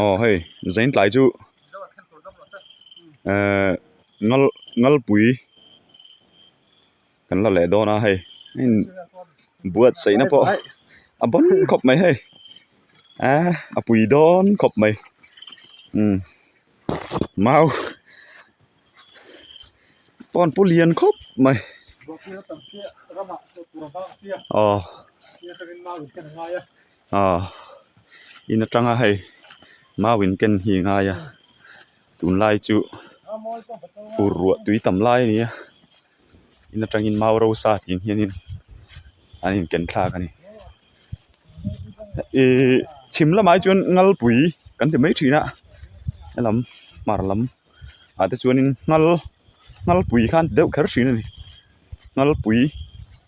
aw hei zaintlai chu ehh ngal ngalpui kan la leh dawn a hei imm buatsaihna pawh a bun khawp mai hei eehh a pui dawn khawp mai imm mau pawn pawh lian khawp mai aw. ah in atanga hei mau in ken hi a ngai a tunlai chu ur ruah tui tam lai a ni a in atangin mau rosa tih ang hianin an inken thlak a ni ihh chhim lamah hi chuan ngalpui kan ti mai thin a he lam hmar lam ah te chuanin ngal ngalpui khan ti deuh kher thin a ni ngalpui.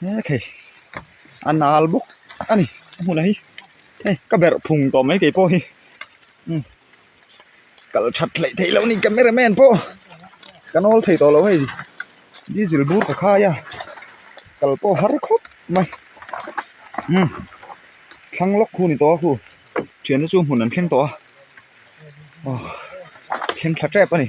he thei a nal bawk a ni ka hmunah hi hei ka berh phung tawh mai kei pawh hi umm kal that hleh theih loh a ni camera man pawh ka nawl thei tawh loh a ni diesel bur ka khai a kal pawh har khawp mai umm thlang lawk khu a ni tawh a khu thianna chu hmun an thleng tawh a aw thleng tha tep a ni.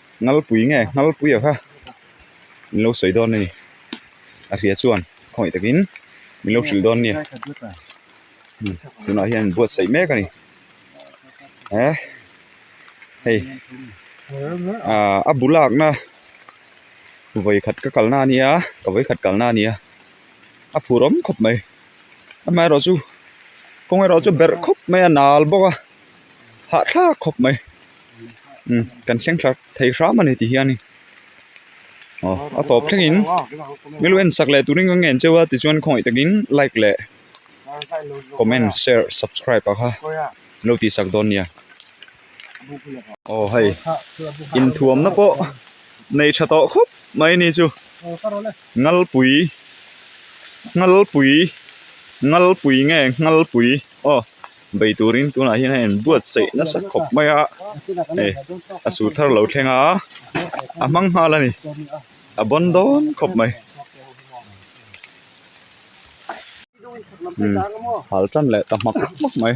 ngalpui nge ngalpuia kha min lo sawi dawn a ni a hria chuan khawih takin min lo hrilh dawn a ni tunah hian min buatsaih mek a ni eh hei ah a bu lakna vawikhat ka kalna a nia ka vawikhat kalna a nia a phur awm khawp mai amaherawhchu kawngaih erawh chu berh khawp mai a nal bawk a. hah thla khawp mai umm kan thleng tha thei hram a ni tih hian in aw a tawp thleng in milu en sak leh turin kan ngen cheu a tichuan khawngaih tak in like leh comment share subscribe a kha min lo tih sak dawn nia aw hei in thuam na pawh nei tha tawh khawp mai a ni chu ngalpui ngalpui ngalpui nge ngalpui aw. bei turin tunah hian a en buatsaih nasa khawp mai a hei a suh thar lo thleng a a hmang nghal a ni a bawn dawn khawp mai umm hal tan leh ta hmak hmak mai.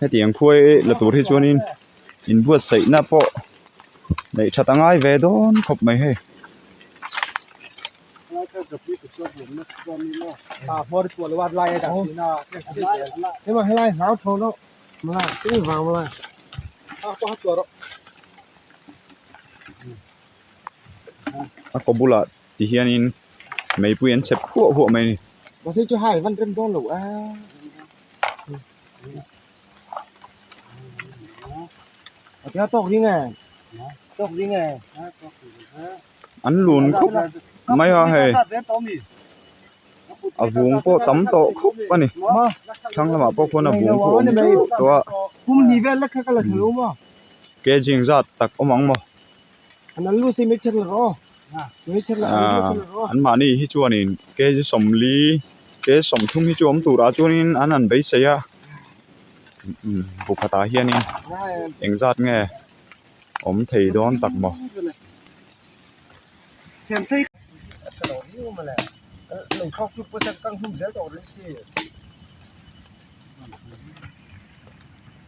heti ang khuai la tur hi chuan in in buatsaih na pawh neih that a ngai ve dawn khawp mai hei a kaw bulah ti hian in meipuiin an chep huah huah mai a ni. Atia tok ding e. Tok ding e. An lun khop mai a hei. A vung pawh tam tawh khop a ni. Thlang lamah pawh khuan a vung pawh awm teuh tawh a. Kum ni vel lek kha ka la thei a awm a. Kejing zat tak awm ang maw. an mahni hi chuanin K G sawmli K G sawmthum hi chu awm turah chuanin an han beisei a pakhatah hianin engzat nge awm thei dawn tak maw.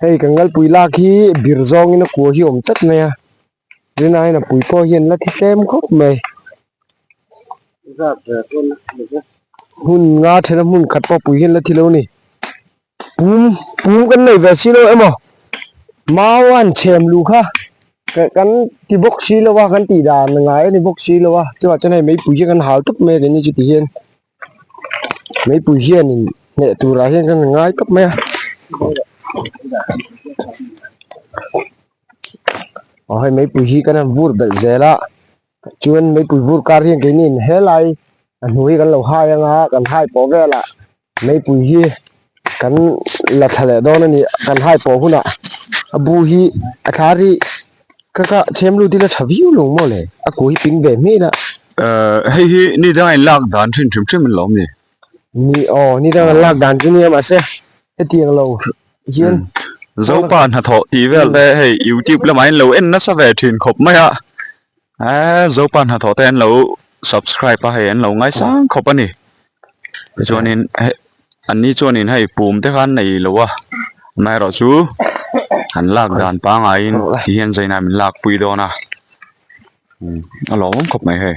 hei kan kalpui lak hi bir zawng in a kua hi a awm tlat mai a tun ah hian a pui pawh hian la thi tlem khawp mai hun nga then a hmun khat pawh a pui hian la thi lo a ni pum pum kan neih ve si lo emaw mau a han chhem lu kha kan ti bawk si lo a kan tih dan ngai a ni bawk si lo a chuan hei mai pui hi kan hal tawp mai a kan ni chu ti hian. meipui hian in hneh tur ah hian ka rawn ngai khawp mai a aw hei meipui hi ka rawn bur belh zel a chuan meipui bur kar hian keini in helai a hnuai hi kan lo hai anga kan hai pawh vel ah meipui hi-- Kan la thla leh dawn a ni kan high pawh hunah a bu hi a thlar hi ka ka chhem lut ila tha viau lo maw le a ku hi ping ve hmin a. Ahh hei hi nidang in lak dan thin thin thin an lo awm ni? Ni aw nidang an lak dan chu nia mahse hetiang lo hian Zopa hnathawh tih vel te hei youtube lamah in lo en nasa ve thin khawp mai a ahh Zopa hnathawh te an lo subscribe a hei an lo ngai sang khawp a ni. tichuanin heh an ni chuanin hei pum te khan an nei lo a hma erawh chu an lak dan pangai in ti hian zainab in lakpui dawn a umm a lawmawm khawp mai hei.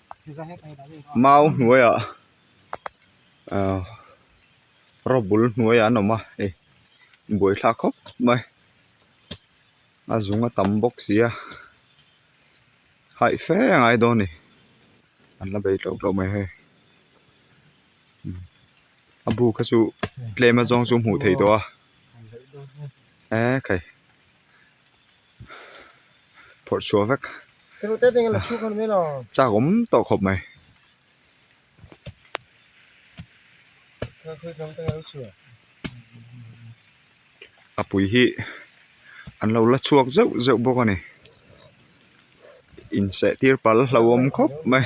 mau hnuaiah ah robul hnuaiah an awm a ni buaithla khawp mai a zung a tam bawk sia haih fe a ngai dawn a ni an la bei tawh tawh mai hei a bu kha chu tlem azawng chu hmuh theih tawh a ekhei. phawrh chhuah vek chak awm tawh khawp mai. a pui hi an lo la chhuak zeuh zeuh bawk a ni inseh tir pal a hlauhawm khawp mai.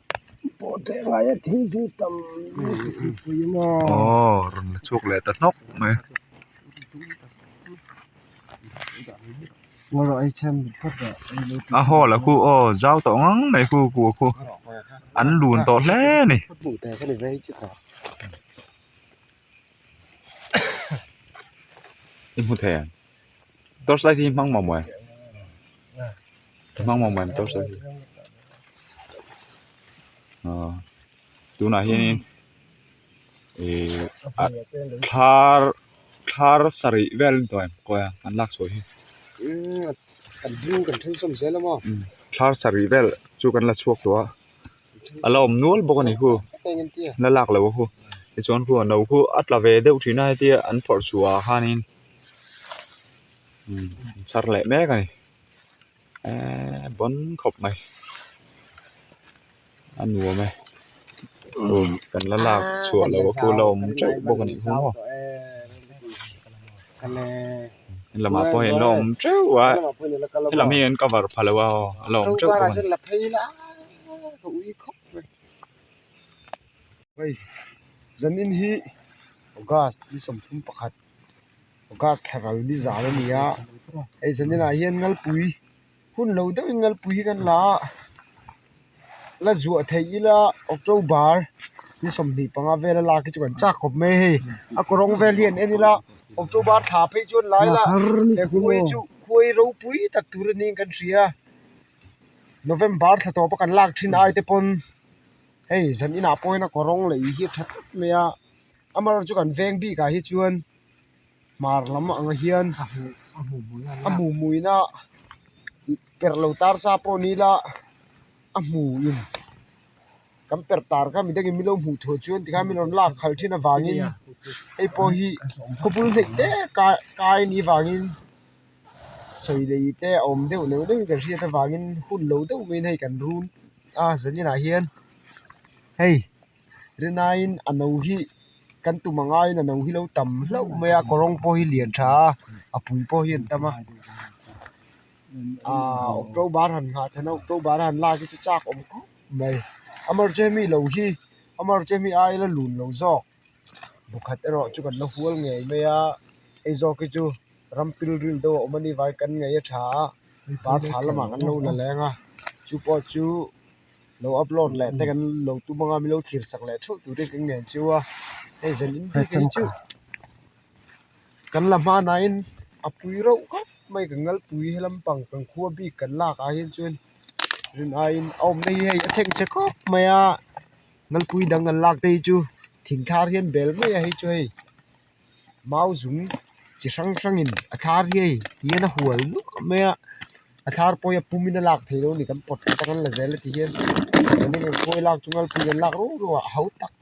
aww rawn la chhuak leh ta hnawk mai. A haw lah khu aw zau tawh ngang mai khu ku a khu an lun tawh hle a ni. torchlight hi hmang mawm mawm a hmang mawm mawm torchlight hi aaa tunah hianin ihh a thlar thlar sarih vel a ni tawh ang kawng a an lak chhuah hi thlar sarih vel chu kan la chhuak tawh a a la awm nual bawk a ni hu la lak lo a hu tichuan hu no hu a tla ve deuh thin a hetia an phawrh chhuah ah khanin. a char leh mek a ni eeee bawn khawp mai a nuam e kan la lak chhuah lo a kula awm teuh bawk a nih hi maw he lamah pawh hian la awm teuh a he lam hi an cover pha lo a aw a la awm teuh bawk a ni. gas thla ral ni zan a ni a hei zan inah hian ngalpui hun lo deuh in ngalpui hi kan la a la zuah theih ila october thil sawmhnih panga vel a lak hi chu kan chak khawp mai a hei a kaw rawng vel hi an en ila october thla phei chu an la ila he khawi chu khawi ropui tak tur anih in kan hria november thla tawp a kan lak thin aite pawn hei zan inah pawhin a kaw rawng lei hi a tha tlat mai a. Amarawng chu kan veng bik ah hi chuan hmar lam ang ah hian a hmuhmuihna per lo tar sa pawh ni ila a hmu in kan per tar kha mi dang in milo hmuh theih chuan tikhan min rawn lak khal thin avang in hei pawh hi khawpui hleih te kai kai ni vang in sawi lei te a awm deuh neuh neuh kan hriat avang in hun lo deuh mai in hei kan run a zan in ah hian hei-- Rinaiin a no hi kan tum angaiin a no hi lo tam hlauh mai a kaw rawng pawh hi lian tha a a pui pawh hi a ni tam a aaa october han nghah theih na october a han lak hi chu chak awm khawp mai amaherawhchu hemi lo hi amaherawh chu hemi aia la lun lo zawk pakhat erawh chu kan la hual ngei mai a eizawk hi chu rampil ril deuh a awm anih vai kan ngaih a tha a parthla lamah kan lo la leng a chu pawh chu-- lo upload leh te kan lo tum anga milo thlir sak leh theuh tur te kan ngen chu a hei zel in bik ang chu kan la hmanah hian apui reuh kap mai ka ngalpui hi lampang kan khua bik kan lak ah hian chuan rin aiin a awmna hi hei a chheng che khawp mai a ngalpui dang kan lakte hi chu thing thar hian bel mai a hei chu hei. mau zum chi hrang hrangin a thar hi a in hian a hual luah mai a a thar pawhin a pum in a lak thei lo a ni kan pawt kha ta kan la zel a ti hian khawi lak chung lalpui in an lak ruau ruau a hau tak --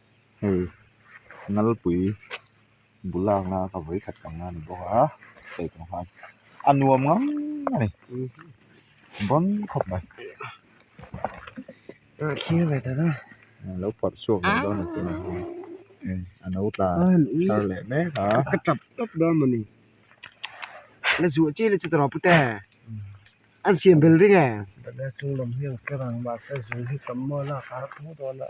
hei nalpui bula nga ka vawi khat kan la ni bawk a sawichung khan a nuam ngam a ni bawm khawp mai thlir ve ta chuan a lo pawrh chhuak ve dawn a tunah hian hei a no tla thar leh mek a ka tap tap dawn a ni la zuah chiah le chutah pute an siam belring e tah hian a chung lam hi a tlarang mahse zui hi tam maw a lakah a thu dawn a.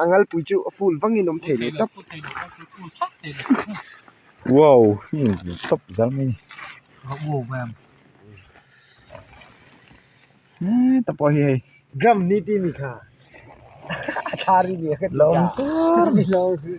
a ngalpui chu a full vangin awm thei leh tawp wow hei awm ve tawp zang mai ni he te pawh hi hei gram ni tih ni tha la awm tûr mai hlawm tûr.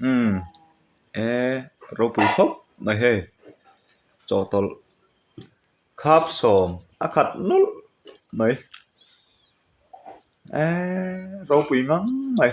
umm e ropui khawp mai he chawhtawlh khap sawm a khat nawlh mai ehh ropui ngang mai.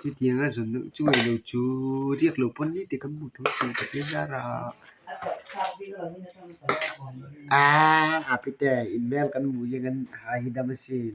Chutianga zawn loh chu ngaih loh chu riak loh pawn ni tih kan hmu thei a chung patin zar a aaa Apite in hmel kan hmu hi kan hai hi dam asin.